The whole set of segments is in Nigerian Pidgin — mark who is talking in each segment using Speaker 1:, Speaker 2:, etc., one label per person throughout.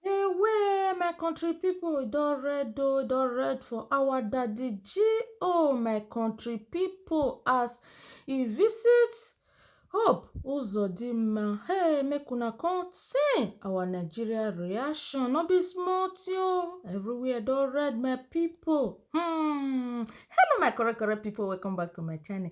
Speaker 1: Away, my country people, don red oh, don red for our daddy G. Oh, my country people, as he visits Hope Uzodinma. Hey, make una come see our Nigeria reaction. No be small thing oh. Everywhere don red, my people. Hmm. Hello, my correct, correct people. Welcome back to my channel.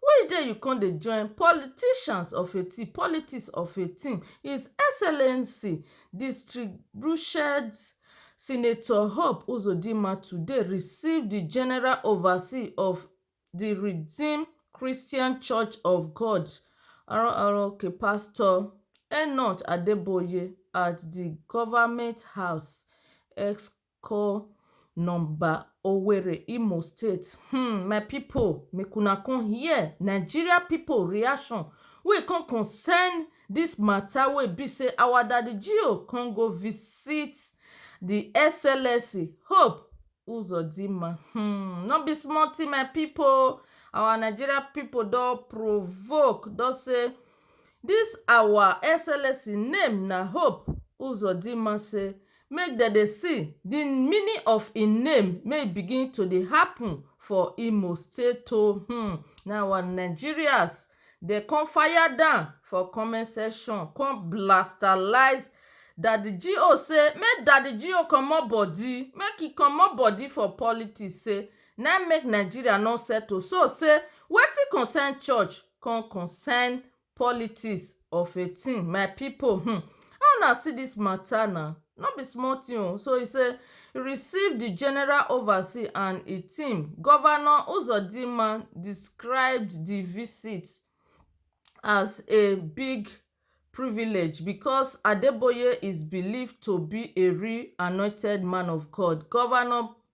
Speaker 1: Which day you come dey join politicians of a team, politics of a team is excellency distributed senator Hope Uzodinma today receive di general oversee of di Redeem Christian Church of God, RROK, Pastor Enoch Adeboye at di Government House, Eko. call number Owerri Imo state um my people make una come hear Nigeria people reaction wey e come concern this matter wey e be say our daddy Gio come go visit the SLSC hope Uzodinma um no be small thing my people oh our Nigeria people don provoke don say this our SLSC name na hope Uzodinma say make dem dey see di meaning of im name make e begin to dey happen for Imo state o hmm na our Nigerians dem come fire down for comment section come blastalize Daddy GO say make Daddy GO comot body make e comot body for politics say na im make Nigeria no settle so say wetin concern church come concern Politics of a thing my people hmm how una see this matter na no be small thing oh so e say e receive the general oversee and e team governor Uzodinma describe the visit as a big privilege because Adeboye is believed to be a real anointed man of God governor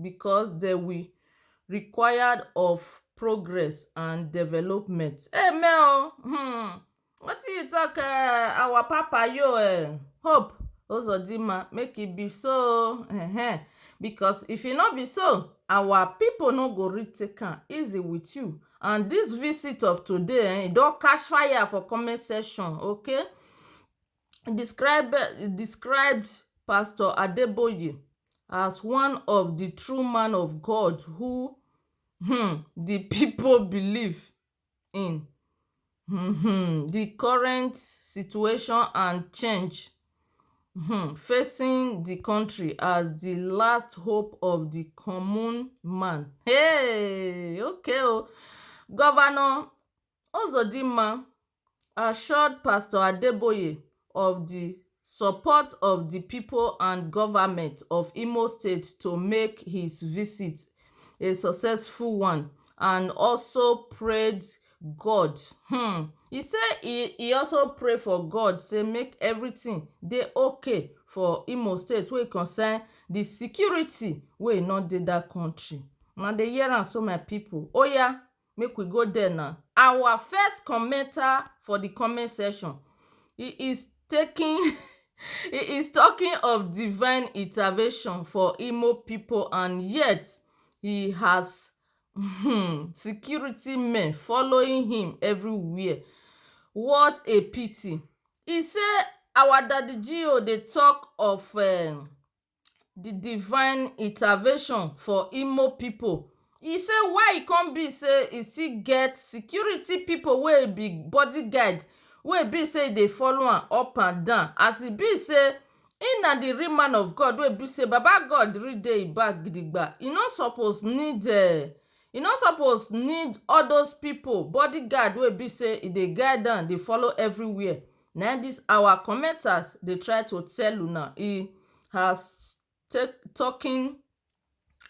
Speaker 1: Because dem will required of progress and development. Amen o hmm wetin you talk eh our papa yo eh hope ozodinma make e be so o ehen because if e no be so our people no go really take am easy with you and this visit of today eh e don catch fire for comment section okay describe described pastor adeboye as one of di true man of god who um di pipo believe in um di current situation and change um facing di kontri as di last hope of di common man um okay o govnor Uzodinma assured Pastor Adeboye of di support of di people and government of Imo State to make his visit a successful one and also prayed God um he say he also pray for God say make everything dey okay for Imo State wey concern di security wey e no dey dat country. Una dey hear am so my people, oya Make we go there na. Our first commenter for the comment section he is taking he is talking of divine intervention for Imo people and yet he has um security men following him everywhere what a pity he say our daddy GO dey talk of um the divine intervention for Imo pipu. E say why e come be say e still get security pipu wey be body guard wey e be say e dey follow am up and down as e be say im na the real man of God wey e be say baba God really dey im back gidigba. E no suppose need um e no suppose need all those pipu body guard wey e be say e dey guide am dey follow everywhere. Na im this our commenters dey try to tell una e has take talking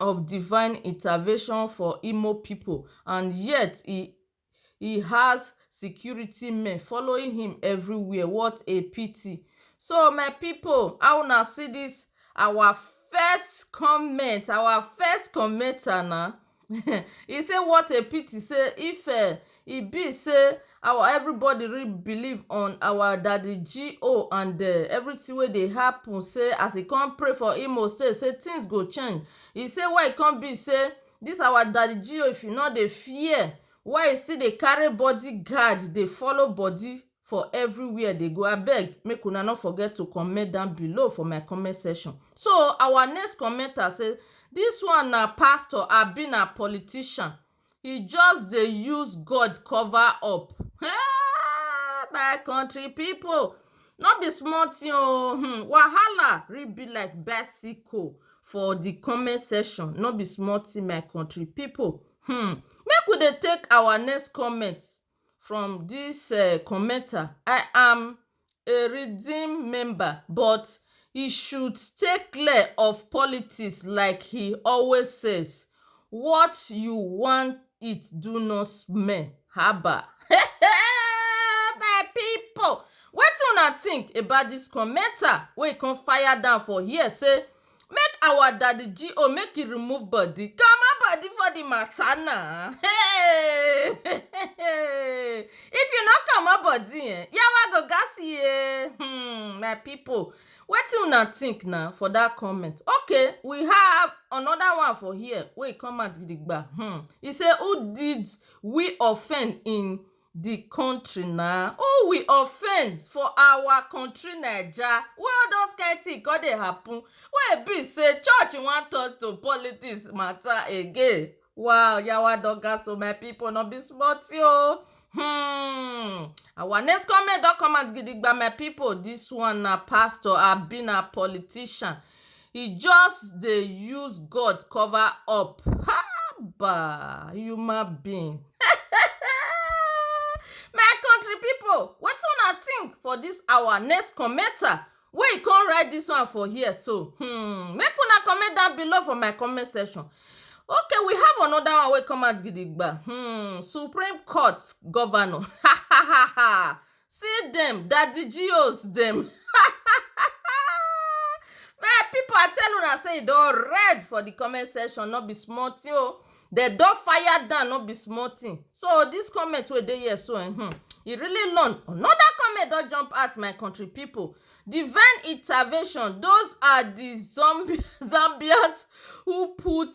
Speaker 1: of divine intervention for Imo people and yet he he has security men following him everywhere what a pity so my people how una see this our first comment our first commenter na e say what a pity say if um e be say our everybody really believe on our daddy G.O and um everything wey dey happen say as e come pray for Imo state say things go change e say why e come be say this our daddy G.O if e no dey fear why e still dey carry body guard dey follow body for everywhere dey go abeg make una no forget to comment down below for my comment section so our next commenter say this one na pastor abi na politician he just dey use God cover up hey my country people no be small thing o hmm wahala really be like bicycle for the comment section no be small thing my country people hmm make we dey take our next comment from dis um commenter i am a redeem member but he should stay clear of politics like he always says what you wan eat do not smell haba um my people wetin una think about dis commenter wey come fire down for here say Make our daddy GO make he remove body comot body for the matter na hey if you no comot body eh yawa go gas ye hmm my people wetin una think na for that comment okay we have another one for here wey come out gidigba hmm he say who did we offend in di country na oh we offend for our country naija wey all those kind thing come dey happen wey e be sey church wan turn to politics matter again wa yawa don gas oh my people no be small thing oh humm our next comment don come out gidigba my people this one na pastor abi na politician e just dey use God cover up haba human being my country people wetin una think for this our next commenter wey e come write this one for here so hmm make una comment down below for my comment section okay we have another one wey come out gidigba hmm supreme court governor ha ha ha ha See dem daddy geos dem um my people i tell una say e don red for the comment section no be small thing o dem don fire down no be small thing so this comment wey dey here so um e really long another comment don jump out my country people divine intervention those are the zombies zambians who put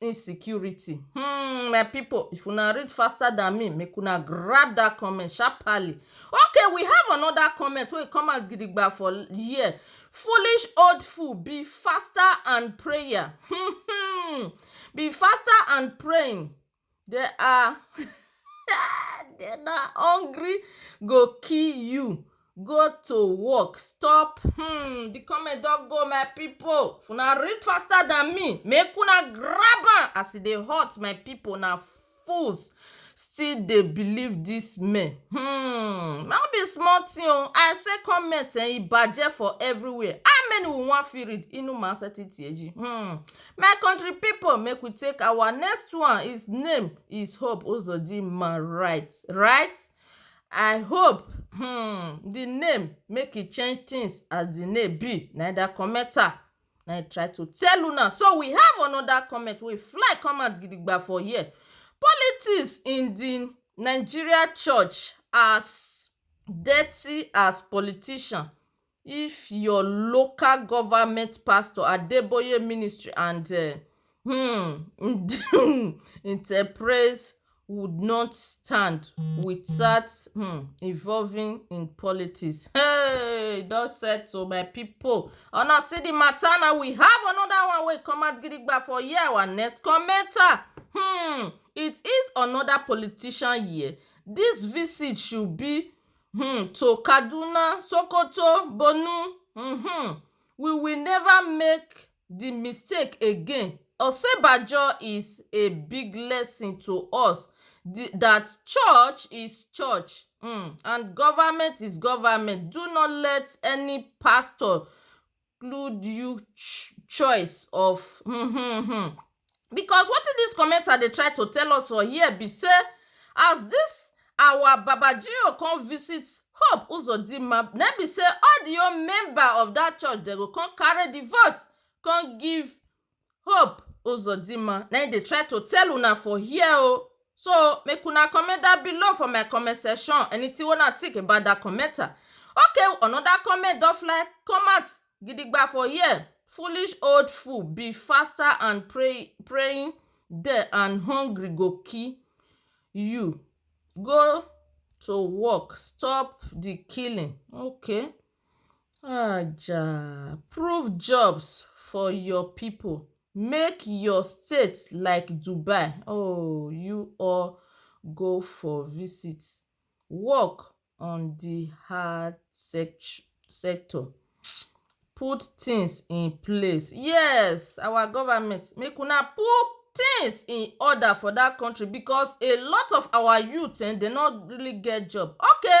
Speaker 1: insecurity hmm my people if una read faster than me make una grab that comment sharply okay we have another comment wey come out gidigba for here foolish old fool be faster and prayer be faster and praying They are they na hungry go kill you go to work stop um the comment don go my people if una read faster than me make una grab am as e dey hot my people na fools still dey believe this men um no be small thing o I say comment um e bajẹ for everywhere how many we wan fit read inú máa sẹ́tí tì ẹ́ jí um My country people make we take our next one his name is Hope Uzodinma right right I hope um the name make e change things as the name be na that comment am na I try to tell una so we have another comment wey fly come out gidigba for here politics in the Nigeria church as dirty as politician if your local government pastor adeboye ministry and um um enterprise would not stand without um involving in politics hey e don settle my people una see the matter na we have another one wey come out gidigba for here our next commenter um it is another politician here this visit should be um to kaduna sokoto borno um we will never make di mistake again osinbajo is a big lesson to us dat church is church um and government is government do not let any pastor include you choice of um um um because wetin dis commenter dey try to tell us for here be sey as dis our babajio come visit hope uzodinma na im be sey all the whole member of dat church dem go come carry the vote come give Hope Uzodinma na im dey try to tell una for here o so make una comment down below for my comment section anything wey una think about that comment okay another comment don fly come out gidigba for here foolish old fool be faster and pray praying there and hungry go kill you go to work stop the killing okay um prove jobs for ur people make ur state like dubai um u or go for visit work on the hard sector um put things in place yes our government make una put things in order for that country because a lot of our youth um dey not really get job okay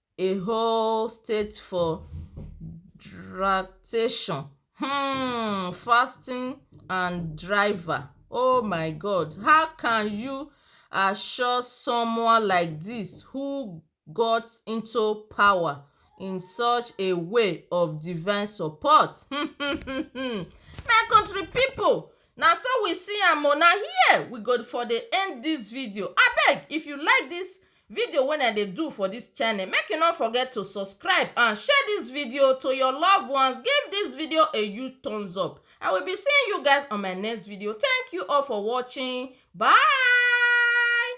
Speaker 1: a whole state for dractation um fasting and driver oh my god how can you assure someone like dis who got into power in such a way of divine support um my country pipu na so we see am o na here we go for dey end dis video abeg if you like dis video wey I dey do for this channel make you no forget to subscribe and share this video to your loved ones give this video a huge thumbs up I will be seeing you guys on my next video thank you all for watching bye